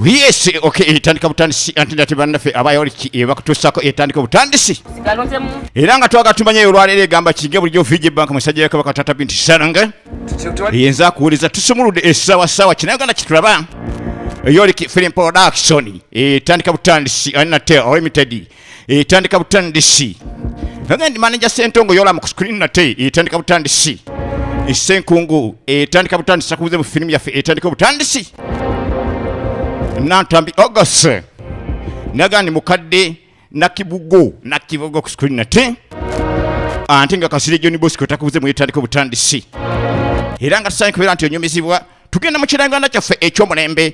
yes okay etandika butandisi anti nate bannaffe abayoliki eh, bakutuusako etandika butandisi era nga twaga tumanyayo olwaleero egamba kinge bulijjo fiji bank musajja ya kabaka tata binti saranga yenza akuwuliza tusumuludde essaawa ssaawa kina uganda kitulaba yoliki film production etandika eh, butandisi ani nate limited etandika butandisi agandi manaja sentongo yola mu screen nate etandika butandisi esenkungu etandika butandisi sakubuze mu filimu yaffe etandika butandisi nantambi august nagandi mukadde nakibugo nakibugo ku screen nate ante nga kasire joni bosco takubuze mu etandika butandisi era nga tusaanye kubeera nti onyumizibwa tugenda mu kiranganda kyaffe ekyomulembe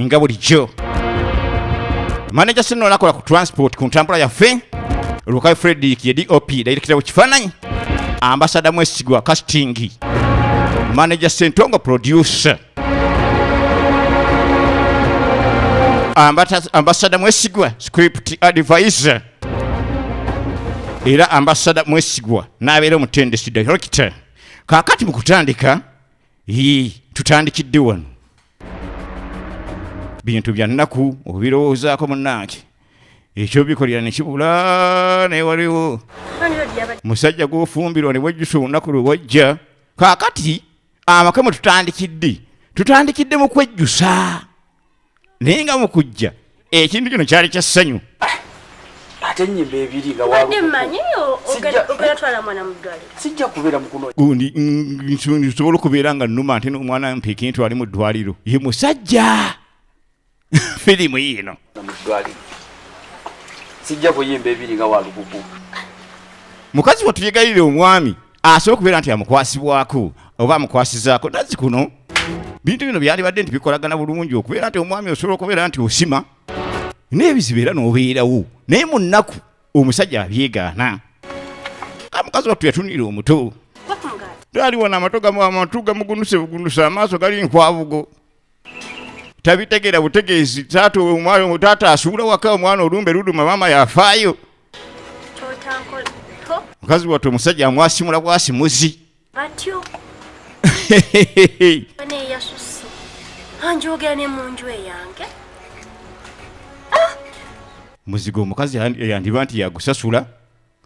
nga bulijjo manaja sino nakola ku transport ku ntambula yaffe lukayo fredrik ye dop dayirekitabo kifaananyi ambasada mwesigwa casting manaja sentongo producer ambasada mwesigwa script advisor era ambasada mwesigwa n'abeera omutendesi director kakati mu kutandika yii tutandikidde wano bintu bya nnaku obirowoozaako munnange ekyo bikolera ne kibula naye waliwo musajja gwofumbirwa ne bwejjusa olunaku lwe wajja kaakati amaka mwe tutandikidde tutandikidde mu kwejjusa naye nga mu kujja ekintu kino kyali kya ssanyu ate enyimba ebiri nga sijja kubeera mukunogundi nsobola okubeera nga numa ate nomwana mpekintu ali mu ddwaliro ye musajja firimu yiino sijja kuyimba ebiri nga walukuku mukazi watuyegayirira omwami asobola okubeera nti amukwasibwako oba amukwasizaako nazi kuno bintu bino byalibadde nti bikolagana bulungi okubeera nti omwami osobola okubeera nti osima n'ebizibu era n'obeerawo naye mu nnaku omusajja abyegaana amukazi wattu yatunira omuto twaliwo n'amato gamu amatu gamugunuse bugunuse amaaso gali nkwabugo tabitegera butegeezi taata omwana taata asuula waka omwana olumbe luduma maama yafaayo mukazi wattu omusajja amwasimula bwasimuzi batyo neyasusi anjogera ne munju eyange ah! muzigo omukazi yandiba nti yagusasula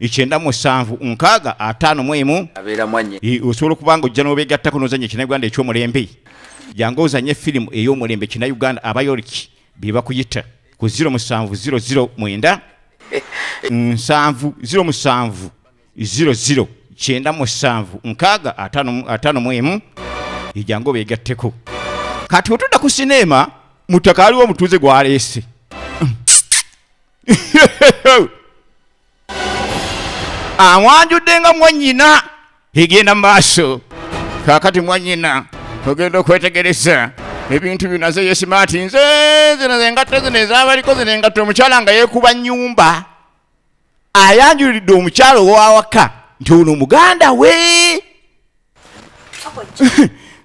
ikyenda musanvu nkaaga ataano mu emu osobola okuba nga ojja n'obeegattako n'ozanya ekinayuganda eky'omulembe jangu ozanye firimu ey'omulembe kinayuganda abayoliki be bakuyita ku 0 musanvu 00 mwenda nsanvu 0 musanvu 00 kyenda musanvu nkaaga ataano mu emu ejangu obeegatteko kati otudda ku sineema mutaka aliwo omutuuze gwaleese amwanjudde nga mwanyina egenda maaso kakati mwanyina ogenda okwetegereza ebintu bino aze yesimaati nze zino zengatto zino ezabaliko zino engatto omukyala nga yekuba nyumba ayanjulidde omukyala owawaka nti ono muganda we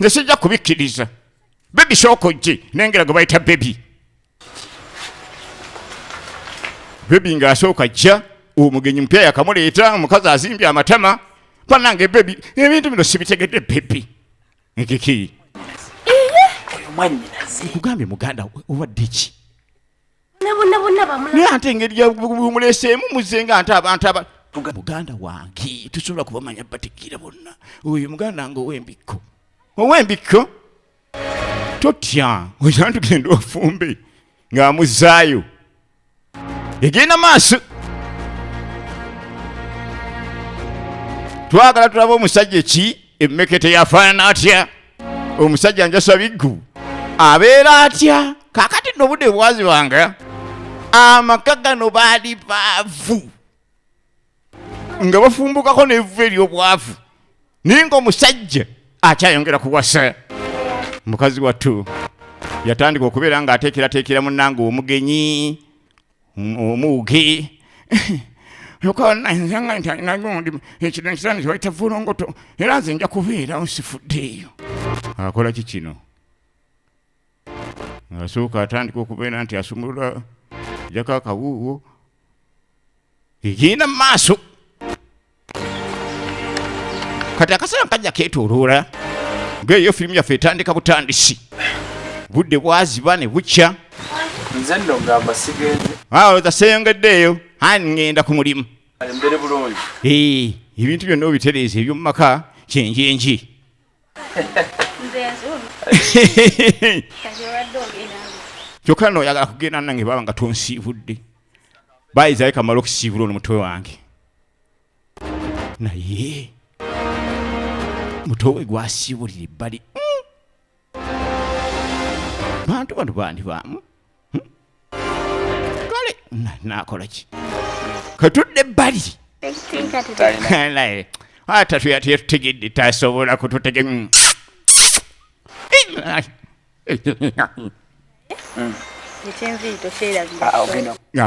nze sijja kubikkiriza bebi sooka ojje nengera gwe bayita bebi bebi nga asooka jja omugenyi mupya yakamuleeta omukazi azimbye amatama banange bebi ebintu bino sibitegedde bebi nkiki nkugambye muganda obadde ki naye ante engeri yamuleseemu muze nga ante abantu aba muganda wange tusobola kubamanya bategeera bonna oyo muganda nga owembikko owembikko totya oyina tugenda ofumbe ng'amuzaayo egenda maaso twagala tulaba omusajja ki emmekete yafaanana atya omusajja njasa biggu abeera atya kakati nobudde bwazibanga amaka gano baali baavu nga bafumbukako n'evvu ery'obwavu naye ng'omusajja akyayongera kuwasa mukazi wattu yatandika okubeera ng'ateekerateekera munnange omugenyi omuwuge okananzanga nti alinagundi ekiro ekisana kyebayita vulongoto era nze nja kubeerawo sifuddeeyo akola ki kino asooka atandika okubeera nti asumulula jako akawuuwo egenda mu maaso kati akaseera kajja ketoloola ngaeyo firimu yaffe etandika butandisi budde bwaziba ne bukya nze nno ngamba sigenze awo zaseyongeddeeyo ani ngenda ku mulimu mbere bulungi ebintu byonna obitereeza eby'omu maka kyenjenji kyokka no oyagala kugenda nange baba nga tonsiibudde bayiza ye kamala okusiibula ono mutwe wange naye mutowe gwasiibulira ebbali hmm. bantu bano bandi baamu hmm? kale nakola ki katudde ebbali ata tuyatetutegedde tasobola kututege hmm.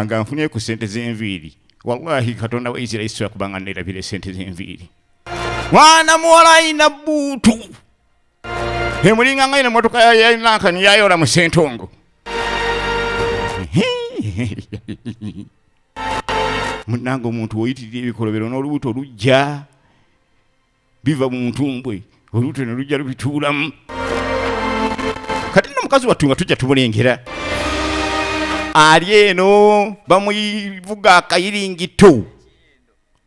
nga nfunye ku sente zenviiri wallahi katonda wa isirairi sobola kubanga nerabira esente zenviiri mwana muwala ayina buutu emulinga nga ino motoka yayinankani yayola mu sentongo munange omuntu woyitirira ebikolobero n'olubuto lujja biva mu ntumbwe olubuto ne lujja lubituulamu kati no mukazi wattu nga tujja tumulengera ali eno bamuyivuga akayiringito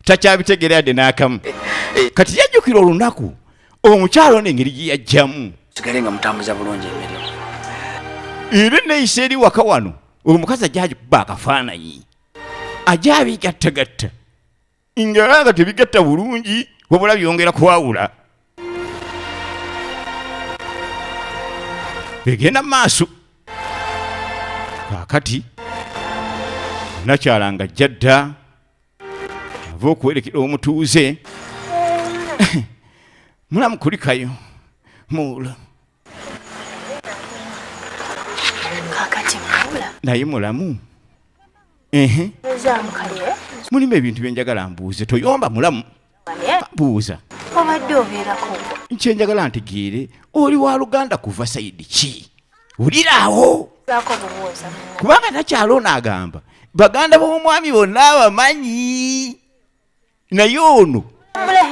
takyabitegeera yadde n'akamu eh, eh. kati yajjukira olunaku omukyalo n'engeri gye yajjamu sigale nga mutambuza bulungi emirimu era neyisa eri waka wano oyo mukazi ajja agikuba akafaananyi ajja abigattagatta nga nga tebigatta bulungi wabula byongera kwawula egenda mu maaso kaakati nakyala nga jjadda ava okuwerekera omutuuze mulamu kulikayo muula naye mulamu mulimu ebintu byenjagala mbuuze toyomba mulamu buuza obadde obeerako kyenjagala ntegeere oli wa luganda kuva sayidi ki wuliraawo kubanga nakyalo ono agamba baganda b'omwami bonna abamanyi naye ono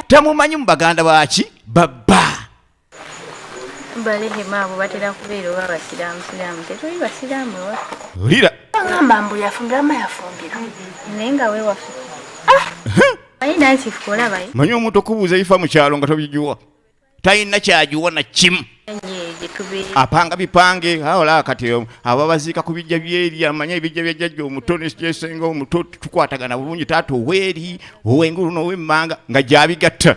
tamumanyi mu baganda baki babba balehema abo batera kubeera oba basiraamu siraamu tetuli basiraamu ewaffe wulira agamba mbu yafumbira ma yafumbira naye nga wewaffe manyi omuntu okubuuza ebifa mu kyalo nga tobijuwa talina kyajuwa na kimu apanga bipange awola kati ababaziika ku bijja byeri amanya ebijja byajjajja omuto nekyesenga omuto tukwatagana bulungi taata oweeri owengulu nowemmanga nga gyabigatta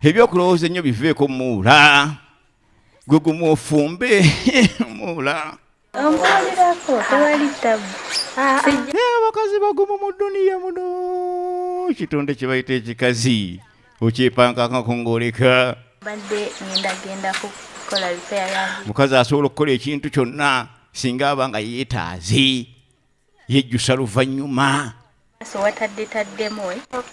ebyokulowooza ennyo biveeko muula gwe gumu ofumbe muula omuwulirako tewali tabu abakazi bagumu mu duniya muno kitonde kyebayita ekikazi okyepankakako ng'oleka badde ngendagenda kukola lipaya yange mukazi asobola okukola ekintu kyonna singa aba nga yeetaaze yejjusa luvannyuma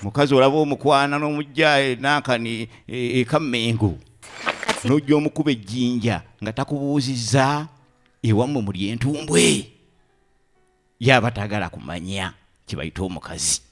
mukazi olaba omukwana n'omujjaye nankani ekammengo e, e nojja omukuba ejjinja nga takubuuzizza ewammwe muli entumbwe yaba tagala kumanya kyebayita omukazi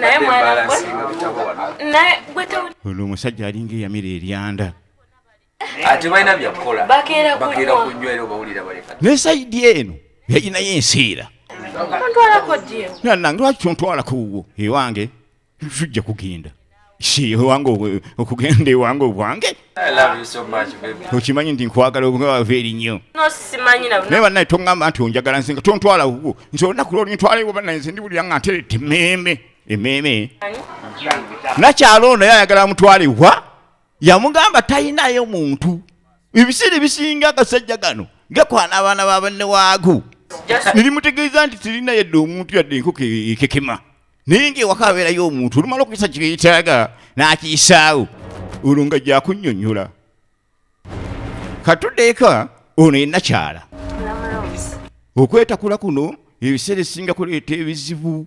naye mwana gwe naye gwe ono omusajja alinga eyamira eryanda ate balina byakukola bakeera kunywa era obawulira baleka ne sayidi eno yayinayo ensiira ontwalako ddi nanange lwaki ontwalako wuwo ewange tujja kugenda Shi wange obwe- okugenda ewange obwange I love you so much, baby. okimanyi nti nkwagala obwava eri nnyo No simanyi na naye banaye toŋŋamba nti onjagala nsinga tontwala wuwo nze olunaku lwoli ntwalewo banaye nze ndiwulira nga nterete emmeeme emmeeme nakyalo ono naye ayagala amutwale wa yamugamba talinayo muntu ebisiri bisinga agasajja gano gakwana abaana babanne waago nirimutegeeza nti tirina yadde omuntu yadde enkoko ekekema naye ngaewaka abeerayo omuntu olumala okuyisa kyeyetaaga n'akiyisaawo olwo nga gyakunyonyola katuddeeka ono enakyala okwetakula kuno ebiseera esinga kuleeta ebizibu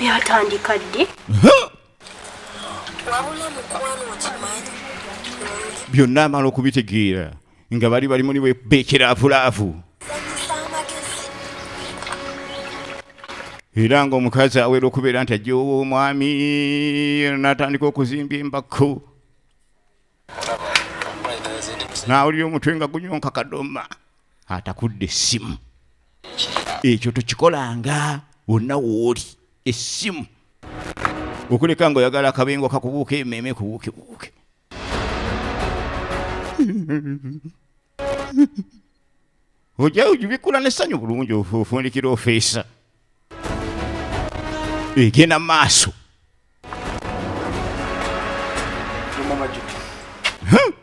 byatandika ddi byonna amala okubitegeera nga bali bali muli beekiraavulaavu era ng'omukazi awera okubeera nti ajja ow'omwami natandika okuzimba embakko naawulira omutwe nga gunyonka kadoma atakudde essimu ekyo tokikolanga wonna wooli essimu okuleka nga oyagala akabengo kakubuuka emeeme kubuukebuuke ojja ojubikula n'essanyu bulungi ofundikira ofeesa egenda mu maaso